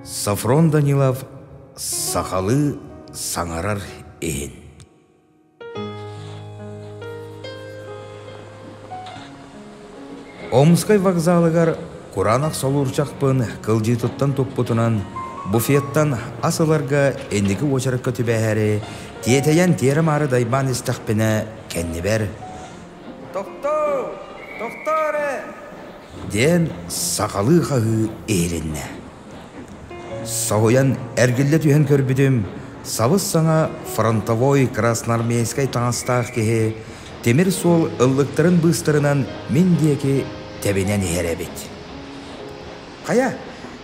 Софрон Данилов сахалыы саҥарар иһин Омскай вокзалыгар кураанах солуурчахпын кылдьыытыттан туппутунан буфеттан ас ыларга инники уочаракка түбэһээри тиэтэйэн тиэрэ-маары дайбаан истэхпинэ кэннибэр Тохтоо! Тохтоо эрэ! диэн сахалыы хаһыы иһилиннэ. Соһуйан эргиллэ түһэн көрбүтүм, сабыс-саҥа фронтовой красноармейскай таҥастаах киһи тимир суол ыллыктарын быыстарынан мин диэки тэбинэн иһэр эбит. Хайа,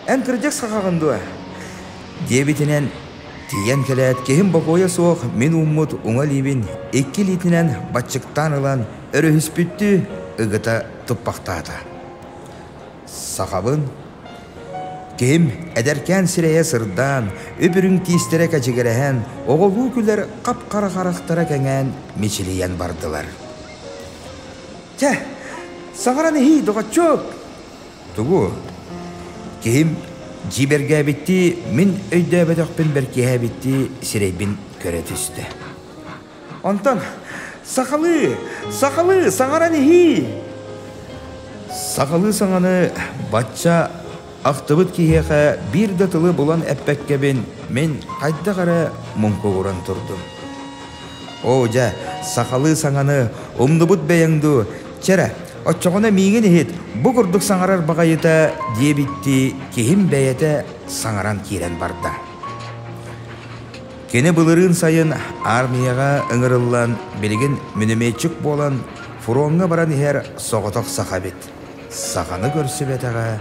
эн кырдьык сахаҕын дуо? диэбитинэн тиийэн кэлээт, киһим бокуойа суох мин ууммут уҥа илиибин икки илиитинэн баччыктаан ылан өрүһүспүттүү ыгыта туппахтаата. Сахабын киһим эдэркээн сирэйэ сырдаан, үп-үрүҥ тиистэрэ кэчигирэһэн, оҕолуу күлэр хап-хара харахтара кэҥээн мичилийэн бардылар. «Чэ, саҥаран иһии, доҕоччуок!» Тугу? Киһим дьиибэргээбиттии мин өйдөөбөтөхпүн бэркиэһээбиттии сирэйбин көрө түстэ. Онтон сахалыы, сахалыы саҥаран иһии. Сахалыы саҥаны бачча ахтыбыт киһиэхэ биир да тылы булан эппэккэбин мин хайдах эрэ муҥкугуран турдум. Оо, дьэ, сахалыы саҥаны умнубут бэйэҥ дуу? Чэ эрэ, оччоҕуна миигин иһит, бу курдук саҥарар баҕайыта, диэбиттии киһим бэйэтэ саҥаран киирэн барда. Кини былырыын сайын аармыйаҕа ыҥырыллан билигин мүнүмүөччүк буолан фроҥҥа баран иһэр соҕотох саха эбит. Саҕаны көрсүбэтэҕэ,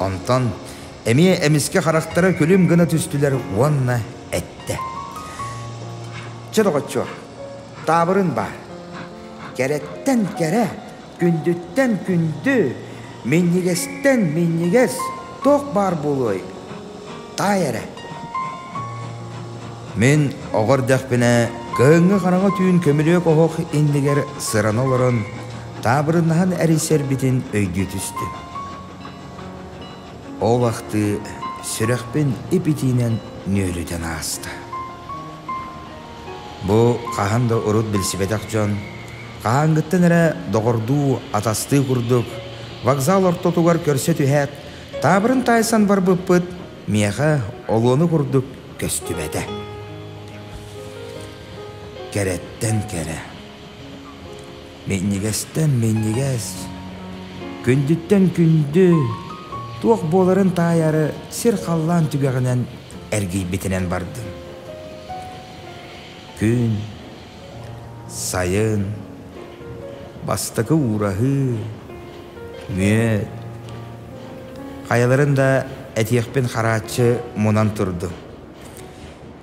Онтон эмиэ эмискэ харахтара күлүм гына түстүлэр уонна эттэ: «Чэ, доҕоччуо, таабырын баар. Кэрэттэн кэрэ, күндүттэн күндү, минньигэстэн минньигэс туох баар буолуой?» таай эрэ мин оҕо эрдэхпинэ кыһыҥҥы хараҥа түүн көмүлүөк оһох иннигэр сырана олорон таабырыннаһан эрийсэрбитин өйдүү түстүм ол ахтыы сүрэхпин ип итиинэн нүөлүтэн ааста бу хаһан да урут билсибэтэх дьон хаһааҥҥыттан эрэ доҕордуу атастыы курдук вокзал ортотугар көрсө түһээт Таабырын таайсан барбыппыт, миэхэ олуону курдук көстүбэтэ. Кэрэттэн кэрэ. Минньигэстэн минньигэс. Күндүттэн күндү. Туох буоларын таайары сир халлаан түгэҕинэн эргийбитинэн бардым. Күн Сайын, бастакы уураһыы, мүөт. Хайаларын да этиэхпин харааччы мунан турдум.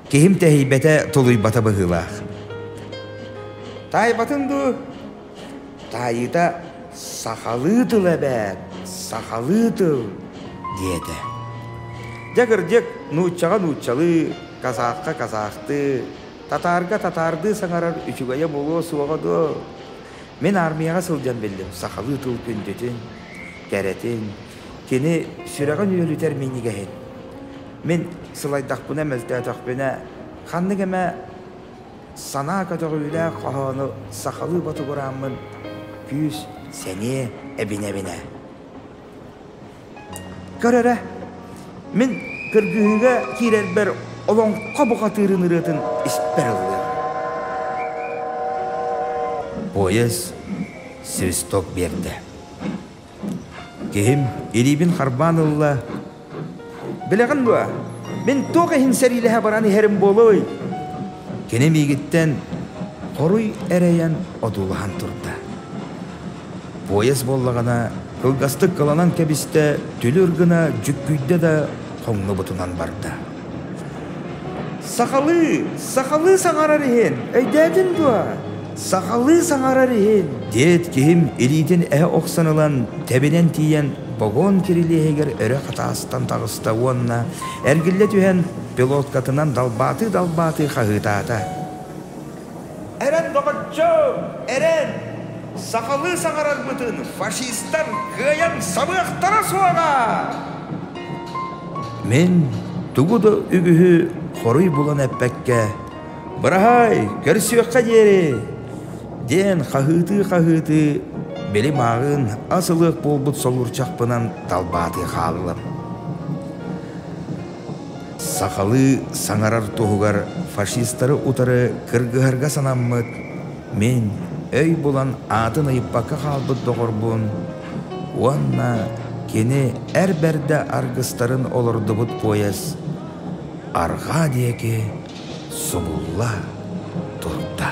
Киһим тэһийбэтэ, тулуйбата быһыылаах. Таайбатын дуу? Таайыта сахалыы тыл эбээт, сахалыы тыл, диэтэ. Дьэ кырдьык, нууччаҕа нууччалыы, казахка казахтыы, Татаарга татаардыы саҥарар үчүгэйэ буолуо суоҕа дуо? Мин аармыйаҕа сылдьан биллим, сахалыы тыл күндүтүн, кэрэтин, кини сүрэҕин үөлүтэр минньигэһин. Мин сылайдахпына, мөлтөөтөхпүнэ, ханнык эмэ санаа көтөҕүүлээх хоһоону сахалыы ботугурааммын күүс, сэниэ эбинэ-эбинэ. Көр эрэ, мин кыргыһыыга киирэрбэр олоҥхо бухатыырын ырыатын испэр ыллыам. Поезд свисток биэрдэ. Киһим илиибин харбаан ылла. «Билэҕин дуо, мин туох иһин сэриилэһэ баран иһэрим буолуой?» Кини миигиттэн хоруй эрэйэн одуулаһан турда. Поезд буоллаҕына кылгастык кыланан кэбистэ, түлүр гына дьүккүйдэ да хоҥнубутунан барда. «Сахалыы, сахалыы саҥарар иһин, өйдөөтүн дуо? Сахалыы саҥарар иһин!» диэт киһим илиитин эһэ охсон ылан тэбинэн тиийэн вагон кирилиэһигэр өрө хатаастан таҕыста уонна эргиллэ түһэн пилоткатынан далбаатыы-далбаатыы хаһыытаата. Эрэн, доҕоччо, эрэн! Сахалыы саҥарарбытын фашистар кыайан сабыахтара суоҕа! Мин тугу да үгүһү хоруй булан эппэккэ, быраһаай, көрсүөххэ диэри, диэн хаһыытыы-хаһыытыы били мааҕын ас ылыах буолбут солуурчахпынан далбаатыы хааллым. Сахалыы саҥарар туһугар фашистары утары кыргыһарга санаммыт, мин өй булан аатын ыйыппакка хаалбыт доҕорбун уонна кини эр бэрдэ аргыстарын олордубут поезд арҕаа диэки субулла турда.